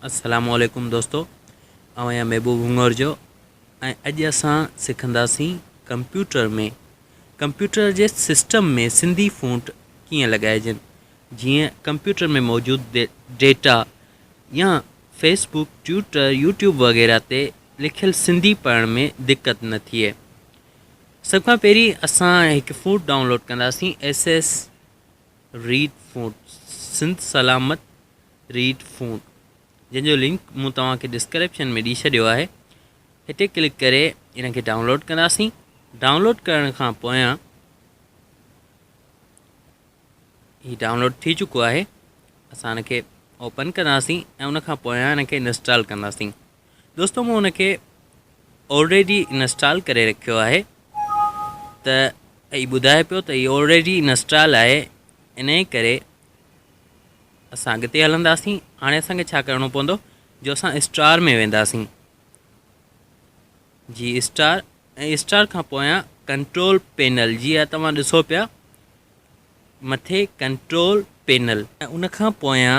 السلام عليڪم دوستو آئون آهيان محبوب هڱور جو ۽ اڄ اسان سکنداسين ڪمپيوٽر ۾ ڪمپيوٽر جي سسٽم ۾ سنڌي فونٽ ڪيئن لڳائجن جيئن ڪمپيوٽر ۾ موجود ڊيٽا يا فيسبوڪ ٽويٽر يوٽيوب وغيره تي لکيل سنڌي پڙهڻ ۾ دقت نه ٿئي سڀ کان پهرين اسان هڪ فونٽ ڊائونلوڊ ڪنداسين S S red font Sindh Salamat red font جنهن جو لنڪ مون توهان کي ڊسڪرپشن ۾ ڏئي ڇڏيو آهي هتي ڪلڪ ڪري ان کي ڊائونلوڊ ڪنداسين ڊائونلوڊ ڪرڻ کان پويان هي ڊائونلوڊ ٿي چڪو آهي اسان ان کي اوپن ڪنداسين ۽ ان کان پويان ان کي انسٽال ڪنداسين دوستو مون ان کي آلريڊي انسٽال ڪري رکيو آهي ته هي ٻڌائي پيو ته هي آلريڊي انسٽال آهي ان جي ڪري اسان اڳتي هلنداسين هاڻي اسانکي ڇا ڪرڻو پوندو جو اسان اسٽار ۾ وينداسين جي اسٽار ۽ اسٽار کان پويان ڪنٽرول پينل جي آ توهان ڏسو پيا مٿي ڪنٽرول پينل ان کان پويان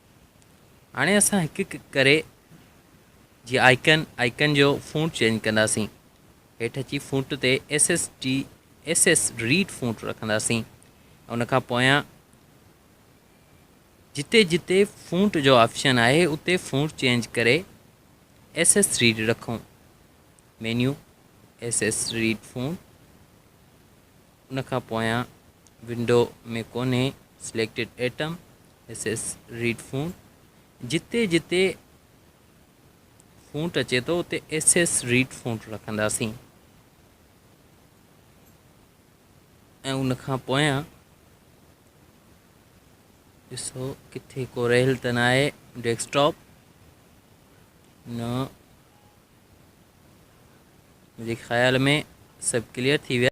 هاڻي اسان هڪ هڪ ڪري جي آئيڪن آئيڪن جو فونٽ چينج ڪنداسين هيٺ اچي فونٽ تي S S D S S red font رکنداسين ان کان پويان جتي جتي فونٽ جو آپشن آهي اتي فونٽ چينج ڪري ايس ايس ريڊ رکون menu S S red font ان کان پويان ونڊو ۾ ڪونهي Selected Atom S S red font جتي جتي فونٽ اچي ٿو اتي ايس ايس ريڊ فونٽ رکنداسين ۽ ان کان پويان ڏسو ڪٿي ڪو رهيل ته نه آهي ڊيسڪٽاپ نه منهنجي خيال ۾ سڀ ڪليئر ٿي ويا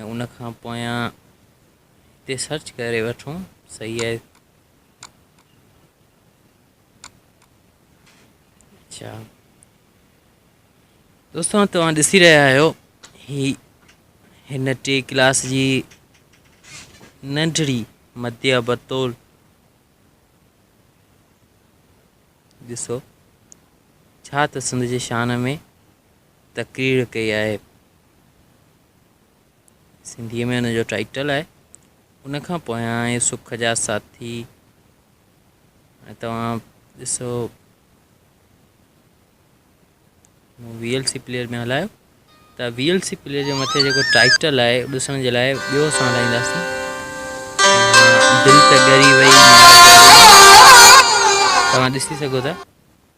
۽ ان کان پويان تي سرچ ڪري وٺون صحيح آهي اچھا دوستو توهان ڏسي رهيا آهيو هي هن ٽي ڪلاس جي ننڍڙي مديا بطول ڏسو ڇا ته سنڌ جي شان ۾ تقرير ڪئي آهي. سنڌيء ۾ ان جو ٽائيٽل آهي. ان کان پويان اهي سک جا ساٿي هاڻي توهان ڏسو مون وي ايل سي پليئر ۾ هلايو ته وي ايل سي پليئر جي مٿي جيڪو ٽائيٽل آهي ڏسڻ جي لاء ٻيو اسان هلائينداسين دل ته ڳري وئي توهان ڏسي سگهو ٿا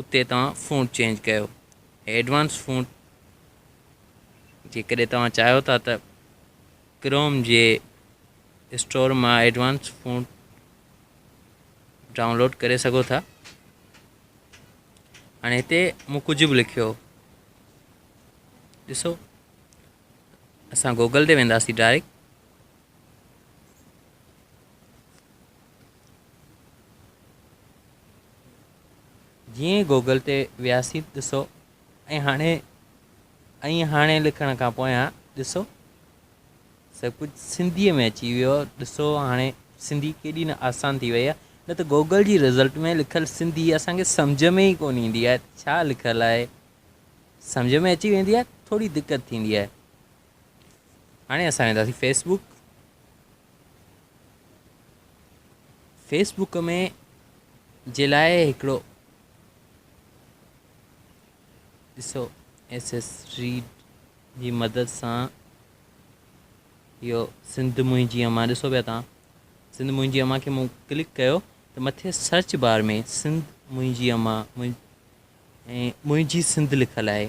اتي توهان فونٽ چينج ڪيو ۽ ايڊوانس فونٽ جيڪڏهن توهان چاهيو ٿا ته ڪروم جي اسٽور مان ايڊوانس فونٽ ڊائونلوڊ ڪري سگهو ٿا هاڻي هتي مون ڪجهه به لکيو ڏسو اسان گوگل تي وينداسي ڊائريڪٽ جيئن ئي گوگل تي وياسين ڏسو ۽ هاڻي ۽ هاڻي لکڻ کان پويان ڏسو سڀ ڪجهه سنڌي ۾ اچي ويو ڏسو هاڻي سنڌي ڪيڏي نه آسان ٿي وئي آهي نه ته گوگل جي رزلٽ ۾ لکل سنڌي اسان کي سمجهه ۾ ئي ڪون ايندي آهي ڇا لکل آهي سمجهه ۾ اچي ويندي آهي ٿوري دقت ٿيندي آهي هاڻي اسان وينداسين فيس بوڪ فيس بوڪ ۾ جي لاء هڪڙو ڏسو ايس ايس ريڊ جي مدد سان اهو سنڌ منهنجي اما ڏسو پيا تان سنڌ منهنجي اما کي مون ڪلڪ ڪيو ته مٿي سرچ بار ۾ سنڌ منهنجي اما ۽ منهنجي سنڌ لکل آهي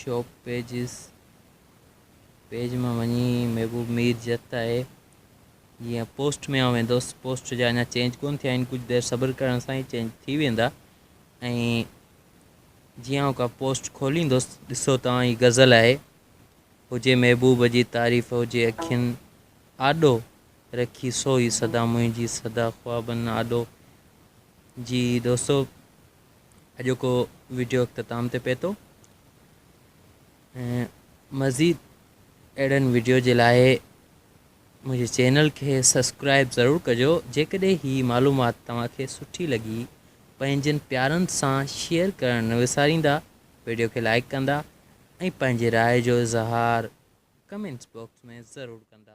شوپ پيجز پيج مان وڃي محبوب مير جت آهي جيئن پوسٽ ۾ آئون ويندوس پوسٽ جا اڃا چينج ڪون ٿيا آهن ڪجهه دير صبر ڪرڻ سان ئي چينج ٿي ويندا ۽ جيئن آئون ڪا پوسٽ کوليندوس ڏسو توهان هي غزل آهي هجي محبوب جي تعريف هجي اکين آڏو رکي سو هي صدا منهنجي صدا خوابن آڏو جي دوستو اڄوڪو وڊيو اختتام تي پهتو ۽ مزيد اهڙن وڊيو جي لاء منهنجي چينل کي سبسڪرائب ضرور ڪجو جيڪڏهن هي معلومات توهان کي سٺي لڳي پنهنجن پيارن سان شيئر ڪرڻ نه وساريندا وڊيو کي لائيڪ ڪندا ۽ پنهنجي راء جو اظهار ڪمينٽس باڪس ۾ ضرور ڪندا.